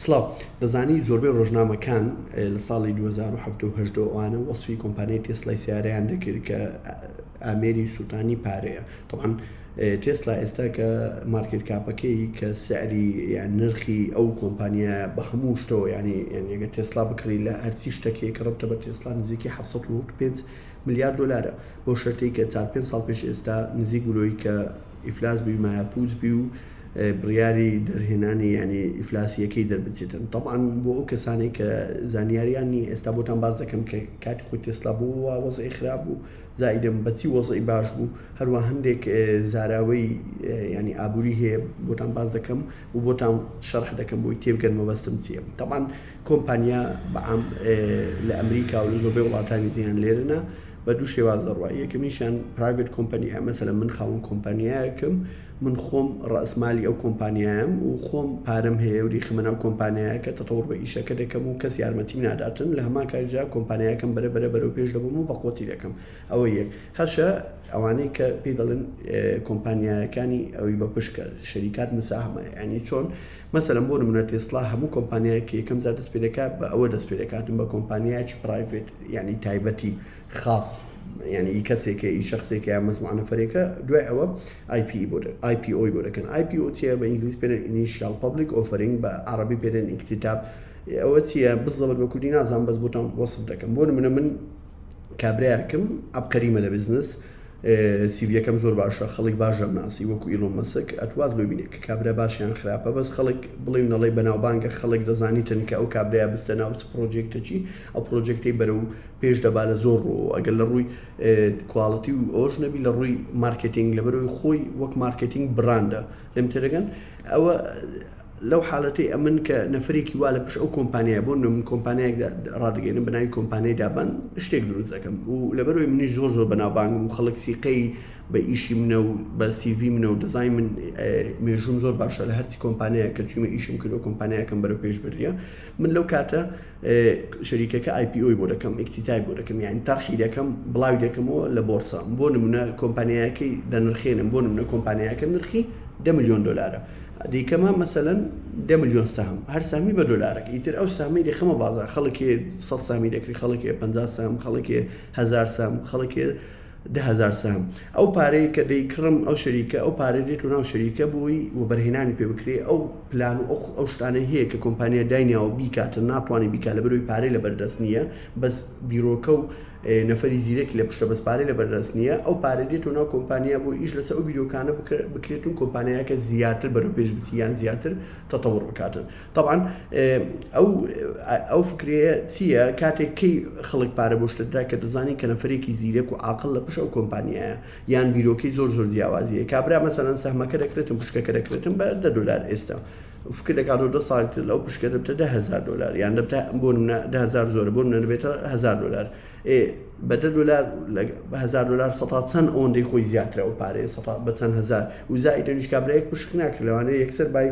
سڵاو. دەزانی زۆربەی ڕۆژنامەکان لە ساڵی دوو هەزار و حەفت و هەشت و ئەوانە وەسفی کۆمپانیای تێسلای سەیارەیان دەکرد کە ئامێری سووتانی پارەیە. تەبعەن تێسلا ئێستا کە مارکێت کاپەکەی کە سعری یان نرخی ئەو کۆمپانیا بە هەموو شتەوە یانی یان یەگە تێسلا بکڕی لە هەرچی شتەکەی کە ڕبتە بە تێسلا نزیکی 1995 ملیار دلارە بۆ شەرتەی کە چار پێ ساڵ پێش ئێستا نزیک بلۆی کە ئیفلاس بووی مایە پووچ بی و بڕیاری دەرهێنانی یانی ئیفلاسی یەکەی دەربچێتن طبعاً بۆ ئەو کەسانەی کە زانیاریان نی ئێستا بۆتان باز دەکەم کە کاتی خۆی تێسلا بۆ وا وەزعی خراپ بوو زائیدەم بەچی وەزعی باش بوو هەروە هەندێک زاراوەی ینی ئابووری هەیە بۆتان باز دەکەم و بۆتان شەرح دەکەم بۆی تێبگەن مەبەستم چیە طبعاً کۆمپانیا بەعام لە ئەمریکا و لە زۆربەی وڵاتانی زیان لێرنە بە دوو شێواز دەڕوای یەکەمیشیان پرایڤێت کۆمپانیا مەسەلە من خاوەن کۆمپانیایەکەم من خۆم ڕەئسمالی ئەو کۆمپانیایەم و خۆم پارەم هەیە و دەیخەمە ناو کۆمپانیایەکە تەتەوڕ بە ئیشەکە دەکەم و کەس یارمەتیم ناداتن لە هەمان کاتیشدا کۆمپانیایەکەم بەرە بەرە بەرەو پێش دەبەم و بەقوەتی دەکەم ئەوە یەک هەشە ئەوانەی کە پێی دەڵێن کۆمپانیایەکانی ئەوی بە پشکە شەریکات مساهمە ینی چۆن مەسەرم بۆ منە تێسڵا هەموو کۆمپانیایەکی یەکەم زار دەست پێ دەکات بە ئەوە دەست پێ دەکاتن بە کۆمپانیایکی پرایڤێت ینی تایبەتی خاص یانی ئی کەسێکە ئی شەخسێکە یان مەجموعە نەفەرێکە دوای ئەوە ئای پی ئی بۆ دە ئای پی ئۆی بۆ دەکەن ئای پی ئۆ چیە بە ئینگلیز پێ دەن ئینیشیال پەبلیک ئۆفەرینگ بە عەڕەبی پێ دەن ئیکتیتاب ئەوە چیە بزەبت بە کوردی نازانم بەس بۆتان وەسف دەکەم بۆ نمونە من کابرایەکم عەبقەریمە لە بزنس سیڤیەکەم زۆر باشە خەڵک باش دەمناسی وەکو ئیلۆ مەسک ئەتوات لۆ بینێک کابرا باشیان خراپە بەس خەڵک بڵێ نەڵی بەناوبانگە خەڵک دەزانیتن کە ئەو کابرایا بستە ناو پرۆجێکتەچی ئەو پرۆجێکتی بەرە و پێش دەبا لە زۆر ڕوەوە ئەگەر لە ڕووی کواڵەتی و ئەوش نەبی لە ڕووی مارکتنگ لە بەرەوەی خۆی وەک مارکتنگ براندە لەم تێدەگەن ئەوە لەو حالەتی ئەمن کە نەفرێکی وا لە پش ئەو کۆمپانیا بۆ نم کۆمپانیایەک ڕادگەێنم بەناوی کۆمپانیای دابان شتێک دروست دەکەم و لەبەرەوەی منی زۆر زۆر بەناوبانگ و خەڵک سیقەی بە ئیشی منە و بە سیV منە و دەزای من مێژوم زۆر باشە لە هەرچی کۆمپانیایە کە چویمە ئیشم کردو کۆمپانیایەکەم بەرە پێش بریە من لەو کاتە شەریکەکە ئای پی ئۆی بۆ دەکەم ئیکتیتای بۆ دەکەم یان تەرحی دەکەم بڵاوی دەکەمەوە لە بۆرسە بۆ نمونە کۆمپانیایەکەی دەنرخێنم بۆ نمونە کۆمپانیایەکە نرخی دە میلیۆن دلارە دیکەمە مەسەەن دە میلیۆن سام هەر سامی بە دلارێک ئیتر ئەو سامی دەخەمە بازار خەڵکی سە سامی دەکری خەڵکی پ سام خەڵکی هزار سام خەڵکی دە هەزار سەهم. ئەو پارەی کە دەی کڕم ئەو شەریکە ئەو پارەی دێت و ناو شەریکە بۆی وەبەرهێنانی پێ بکرێ ئەو پلان و ئەو ئەو شتانەی هەیە کە کۆمپانیای داینیاوە بیکاتن ناتوانێ بیکا لە بەرەوەی پارەی لە بەردەست نییە بەس بیرۆکە و نەفەری زیرەکی لە پشتە بەس پارەی لە بەردەست نییە ئەو پارە دێت و ناو کۆمپانیا بۆ ئیش لەسە ئەو بیرۆکانە بکرێتون کۆمپانیاکە زیاتر بەرەو پێش بچی یان زیاتر تەتەوڕ بکاتن تەبعەن ئەو ئەو فکرەیە چییە کاتێک کەی خەڵک پارە بۆ شتدرا کە دەزانین کە نەفرێکی زیرەک و عقل لە پشە و کۆمپانیایە یان بیرۆکەی زۆر زۆر جیاوازیە کابرا مەسەەن سەحمەکە دەکرێتم پشکەکە دەکرێتم بە دە دلار ئێستا فکر دەکات و دە ساڵتر لەو پشکە دەبتە دههزار دلار یان دەبتە بۆ منە دههزار زۆر بۆ منە دەبێتە هزار دلار ئێ بە دە دۆلار لە بە هەزار دۆلار سەتا چەند ئەوەندەی خۆی زیاترە ئەو پارەیە سەتا بە چەند هەزار و زائیدەنیش کابرایەک پشک ناکرێت لەوانەیە یەکسەر بای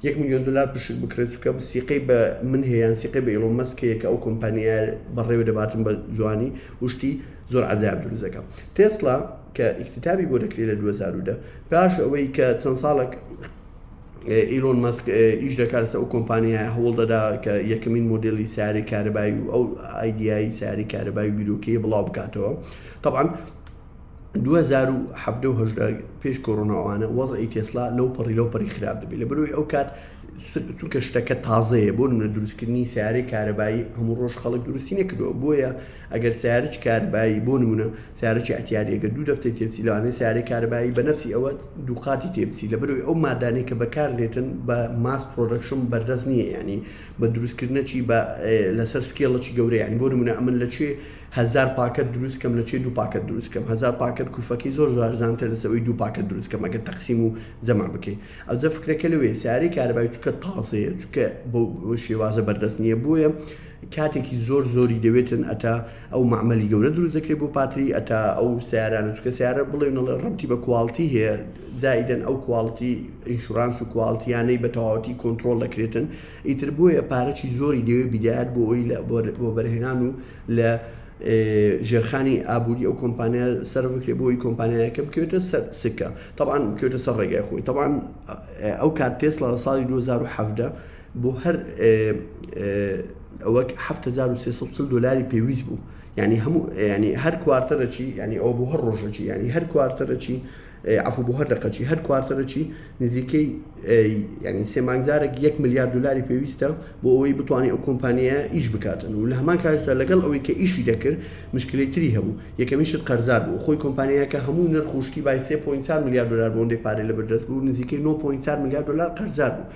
یەک میلیۆن دۆلار پشک بکرێت چونکە سیقەی بە من هەیە یان سیقەی بە ئیڵۆن مەسک هەیە کە ئەو کۆمپانیا بەڕێوە دەباتن بە جوانی و شتی زۆر عەجایب دروست دەکەم تێسلا کە ئیکتتابی بۆ دەکرێت لە 2010 پاش ئەوەی کە چەند ساڵێک ئیلۆن مەسک ئیش دەکات لەسەر ئەو کۆمپانیایە هەوڵ دەدا کە یەکەمین مۆدێلی سیارەی کارەبایی و ئەو ئایدیایی سیارەی کارەبایی و بیرۆکەیە بڵاو بکاتەوە طبعا 2017 پێش کۆرۆناوانە وەزعی تێسلا لەو پەڕی لەو پەری خراپ دەبێت لە بەرەوەی ئەو کات چونکە شتەکە تازەیە بۆ نە دروستکردنی سیارەی کارەبایی هەموو ڕۆژ خەڵک دروستی نەکردووە بۆیە ئەگەر سەیارەی کارەبایی بۆ نموونە سەیارەی ئەتیاری ئەگەر دوو دەفتەی تێبچی لەوانەیە سەیارەی کارەبایی بە نەفسی ئەوە دووقاتی تێبچی لەبەرەوەی ئەو مادانەی کە بەکار دێتن بە ماس پرۆدەکشن بەردەست نییە یانی بە دروستکردنەچی بە لەسەر سکێڵەکی گەورەیان بۆ نمونە ئەمن لە کوێ هزار پاکەت دروستکەم لە کوێ دوو پاکەت دروستکەم هزار پاکەت کوفەکەی زۆر زارزانتر لەسەوەی دوو پاکەت دروستکەم ئەگەر تەقسیم و جەمع بکەیت ئەوزە فکرەکە لەوێ سیارەی کارەبای چکە تازەیە چکە بۆ شێوازە بەردەست نییە بۆیە کاتێکی زۆر زۆری دەوێتن ئەتا ئەو معمەلی گەورە دروست دەکرێت بۆ پاتری ئەتا ئەو سیارانە چکە سیارە بڵێنەڵە ڕەتی بە کوالتی هەیە زائیدەن ئەو کوالتی ئینشورانس و کوالتیانەی بە تەواوەتی کۆنتترۆل دەکرێتن ئیتر بۆیە پارەی زۆری دەوێت بدات بۆ ئەوی لە بۆ بەرهێنان و لە ژێرخانی ئابووری ئەو کۆمپانیا سەر بکرێت بۆی کۆمپانیایەکە بکوێتە سەر سکە تاوان بکوێتە سەر ڕێگای خۆی تاوان ئەو کات تێسڵە لە ساڵی 2017 بۆ هەر ئەوەک هەفت هەزار و سێ سەد و چل دۆلاری پێویست بوو یعنی هەموو یعنی هەر کوارتەرەچی یعنی ئەو بۆ هەر ڕۆژەچی یعنی هەر کوارتەرەچی عفو بۆ هەر دەقەچی هەر کوارتەرەچی نزیکەی یعنی سێ مانگزارێک یەک ملیار دلاری پێویستە بۆ ئەوەی بتوانانی ئەو کۆمپانیایە ئیش بکاتن و لە هەمان کاتدا لەگەڵ ئەوەی کە ئیشی دەکرد مشکلی تری هەبوو یەکەمیشت قەرزار بوو خۆی کۆمپانیایەکە هەموو نرخوشتی بای 3.4 ملیار دلار بۆندێ پارەی لە بەردەست بوو نزیکەی 9.4 ملیار دلار قەرزار بوو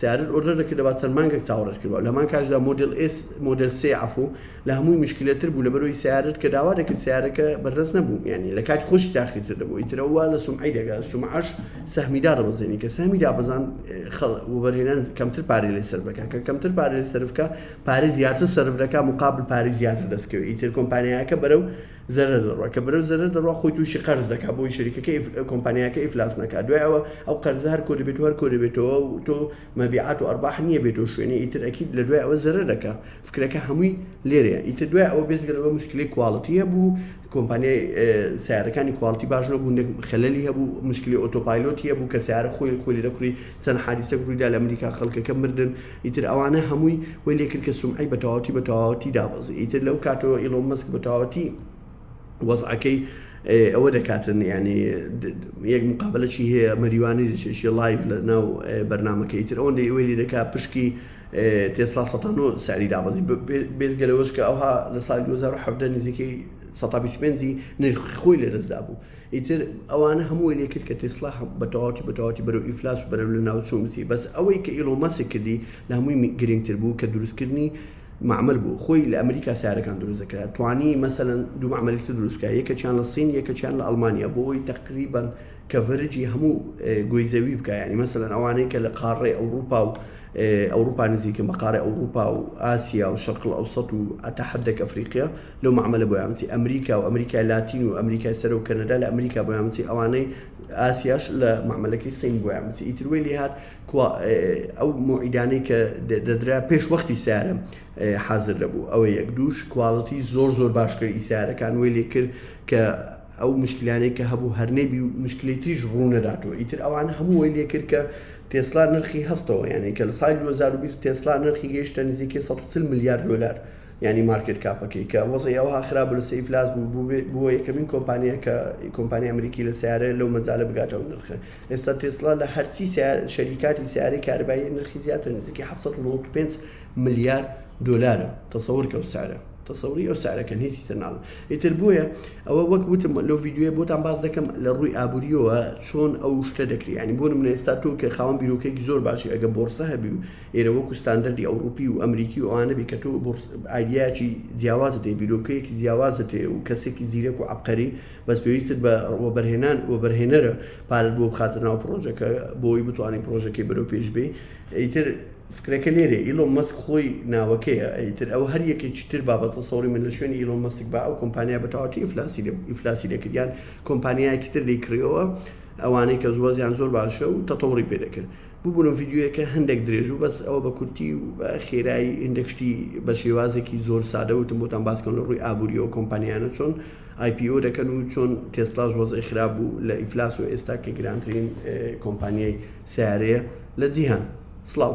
سیارەت ئۆردەر دەکردەبا چەند مانگەک چاوەڕێت کردبا لەهەمان کاتیشدا مۆدێل ئێس مۆدێل سێ عەفو لە هەمووی مشکلە تر بوو لەبەرئەوەی سیارەت کە داوا دەکرد سیارەکە بەردەست نەبوو یانی لە کاتی خۆشی تاخیر تر دەبوو ئیتر ئەوە لە سومعەی دەگا سومعەش سەهمی دادەبەزێنی کە سەهمی دابەزان خەڵ وەبەرهێنان کەمتر پارەی لێ سەرف دەکا کە کەمتر پارەی لێ سەرف کا پارەی زیاتر سەرف دەکا مقابل پارەی زیاتر دەست کەوێ ئیتر کۆمپانیایەکە بەرەو زەرەر دەڕوا کە برەو زەرەر دەڕوا خۆی تووشی قەرز دەکا بۆی شەریکەکە ئیف کۆمپانیاکە ئیفلاس نەکا دوای ئەوە ئەو قەرزە هەر کۆ دەبێت و هەر کۆ دەبێتەوە و تۆ مەبیعات و ئەرباح نییە بێتەوە شوێنی ئیتر ئەکید لە دوای ئەوە زەرەر دەکا فکرەکە هەمووی لێرەیە ئیتر دوای ئەوە بێزگە لەوە مشکلی کواڵتی هەبوو کۆمپانیای سیارەکانی کواڵتی باش نەبوو نەک خەلەلی هەبوو مشکلی ئۆتۆپایلۆتی هەبوو کە سیارە خۆی خۆی لێ دەکڕی چەند حادیسەک ڕوویدا لە ئەمریکا خەڵکەکە مردن ئیتر ئەوانە هەمووی وەی لێ کرد کە سومعەی بە تەواوەتی بە تەواوەتی دابەزی ئیتر لەو کاتەوە ئیڵۆن مەسک بە تەواوەتی وەزعەکەی ئەوە دەکاتن ینی یەک مقابلەی هەیە مەریوانی دەچێشی لایف لە ناو بەرنمەکەی تر ئەوەندە ئەوەی دەکا پشکی تێسلا سە ساری دابەزی بێزگەلەوەش کە ئەوها لە سال 2010 نزیکەی 125 نرخ خۆی لە دەستدا بوو ئیتر ئەوانە هەمووی لێ کرد کە تێسلا بە تەواوەتی بە تەواوەتی بەرەو ئیفلاس و بەرەو لە ناو چوون بچی بەس ئەوەی کە ئیڵۆن مەسک کردی لە هەمووی گرینگ تر بوو کە دروست کردنی معمل بوو خۆی لە ئەمریکا سارەکان دروست دەکرا توانی مەسەلەن دوو معملی تر دروست بکا یەکەکیان لە سین یەکەکیان لە ئەڵمانیا بۆ ئەوەی تەقریبەن کەڤەرجی هەموو گۆی زەوی بکا یعنی مەسەلەن ئەوانەی کە لە قاڕەی ئەوروپا و ئەوروپا نزیکن بە قاڕەی ئەوروپا و ئاسیا و شەرقل ئەوسەت و ئەتا حدەک ئەفریقیا لەو مەعمەلە بۆیان بچی ئەمریکا و ئەمریکای لاتین و ئەمریکای سەرە و کەنەدا لە ئەمریکا بۆیان بچی ئەوانەی ئاسیاش لە مەعمەلەکەی سین بۆیان بچی ئیتر وی لێ هات ئەو موعیدانەی کە دەدرا پێش وەختی سیارە حاضر دەبوو ئەوە یەک دووش کوالڵەتی زۆر زۆر باشکرد ئیسارەکان وی لێ کرد کە ئەو مشکلانەی کە هەبوو هەرنەبی و مشکلی تریش ڕوونەداتەوە ئیتر ئەوان هەمووی لێ کرد کە تێسلا نرخی هەستەوە یانەی کە لە سای 2020 تێسلا نرخی گەیشتە نزیکەی 140 ملیار دلار یانی مارکێت کاپەکەی کە وەزعی ئەوها خراپ بوو لە سەی ئیفلاس بوو بوو بێ- بووە یەکەمین کۆمپانیا کە کۆمپانیا ئەمریکی لە سیارە لەو مەجالە بگاتە ئەو نرخە ئێستا تێسلا لە هەرچی سیار شەریکاتی سیارەی کارەبایی نرخی زیاتر نزیکەی 795 ملیار دۆلارە تەسەور کە ئەو سعرە تەسەوری ئەو سعرە کەن هیچی تر ناڵێ ئیتر بۆیە ئەوە وەک وتم لەو ڤیدیۆیە بۆتان باس دەکەم لە ڕووی ئابووریەوە چۆن ئەو شتە دەکری یانی بۆ نمونە ئێستا تۆ کە خاوەن بیرۆکەیەکی زۆر باشی ئەگە بۆڕسە هەبی و ئێرە وەکو ستاندەردی ئەوڕوپی و ئەمریکی و ئەوانە بی کە تۆ ئایدیاچی جیاوازت هەیە بیرۆکەیەکی جیاوازت هەیە و کەسێکی زیرەک و عبقەری بەس پێویستت بە وەبەرهێنان وەبەرهێنەرە پارت بۆ بخاتە ناو پرۆژەکە بۆی بتوانین پرۆژەکەی بەرەو پێش بێ ئیتر فکرەکە لێرە ئیلۆ مەسک خۆی ناوەکەیە ئیتر ئەو هەر یەکێکی تر بابەتە سەوری من لە شوێنی ئیلۆ مەسک با ئەو کۆمپانیا بەتەواتی ئیفلاسی ئیفلاسی دەکردیان کۆمپانیایەکی تر دەیکڕیەوە ئەوانەی کە زوەزیان زۆر باشە و تەتەوڕی پێ دەکرد ببورن ڤیدیۆیەکە هەندەک درێژ بوو بەس ئەوە بە کورتی و بە خێرایی هندەک شتی بە شێوازێکی زۆر سادە وتم بۆتان باسکەم لە ڕووی ئابووری ئەو کۆمپانیانە چۆن IPO دەکەن و چۆن تێسلاش وەزعی خراپ بوو لە ئیفلاس و ئێستا کە گرانترین کۆمپانیای سیارەیە لە جیهان سلااو